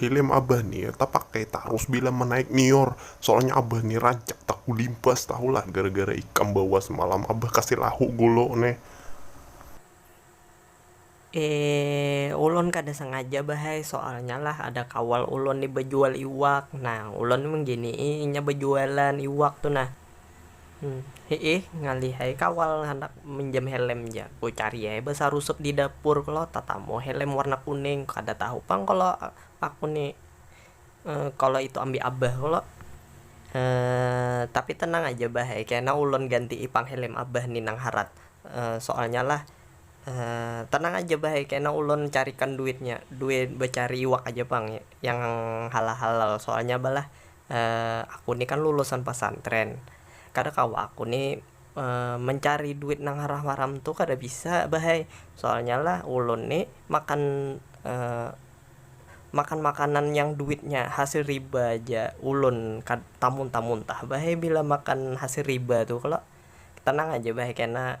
Hilim abah ni tapakai tarus bila manaik nior, soalnya abah ni rancak takulimpas tahulah gara gara ikam bawa semalam abah kasih lahu golo neh. Eee ulun kada sengaja bah ai, soalnya lah ada kawal ulun ni bajual iwak, nah ulun mengginii inya bajualan iwak tu nah, Hiih, ngalih ai kawal handak minjam helm ja, ku cari ai basarusup di dapur kalo tatamu helm warna kuning, kada tahu pang kalo aku ni kalo itu ambi abah kalo tapi tenang aja bah ai kena ulun ganti i pang helm abah ni nang harat soalnya lah tenang aja bah ai kena ulun carikan duitnya, duit becari iwak aja pang yang halal-halal soalnya balah Eh, aku ni kan lulusan pasantren, kada kawa aku ni mencari duit nang haram-haram tu kada bisa bah ai, soalnya lah ulun ni makan makan makanan yang duitnya hasil riba ja, ulun kad tamuntah-muntah bah ai bila makan hasil riba tu kalo, tenang aja bah ai kena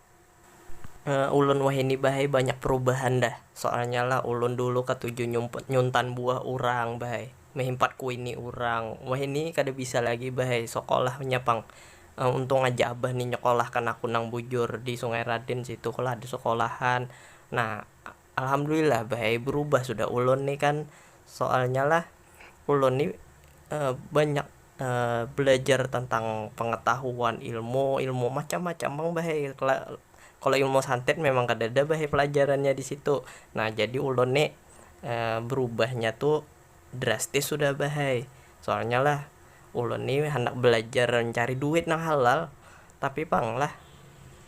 Ulun wahini bahai banyak perubahan dah, soalnya lah ulun dulu katuju nyumput nyuntan buah urang bahai, mehimpat kuini urang, wahini kada bisa lagi bahai, sekolahnya pang, untung aja abah ni nyekolahkan aku nang bujur di sungai raden situ kalu ada sekolahan nah. Alhamdulillah bae berubah sudah ulun ni kan soalnya lah ulun ni banyak belajar tentang pengetahuan ilmu ilmu macam macam pang bae kalo ilmu santet memang kadada bae pelajarannya disitu nah jadi ulun ni berubahnya tu. Drastis sudah bah ai, soalnya lah ulun ni handak balajar mancari duit nang halal, tapi pang lah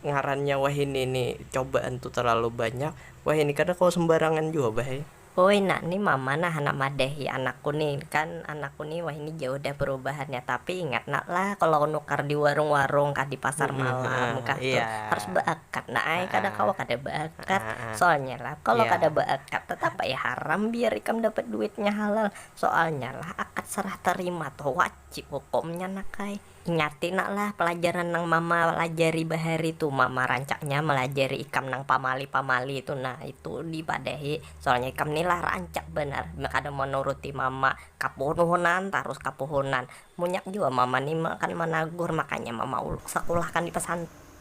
ngarannya wahini ni cobaan tu terlalu banyak, wahini kada kawa sembarangan jua bah ai. Uy nak ni mama nah handak madahi anakku ni, kan anakku ni wahini jauh dah perubahannya, tapi ingat nak lah kalau nukar di warung-warung kah di pasar malam kah tu harus baakat nak ai, kada kawa kada baakat. Akat, soalnya lah kalo kada baakat tetap ai haram biar ikam dapat duitnya halal, soalnya lah akat sarah tarima tuh wajib hukumnya nak ai. Ingati nak lah pelajaran nang mama lajari bahari tuh, mama rancaknya melajari ikam nang pamali-pamali tuh nah itu di padahi, soalnya ikam nih lah rancak banar kada manuruti mama, kapunuhunan tarus kapuhunan, munyak jua mama nih akan managur makanya mama uluk sakulahkan di pesantren.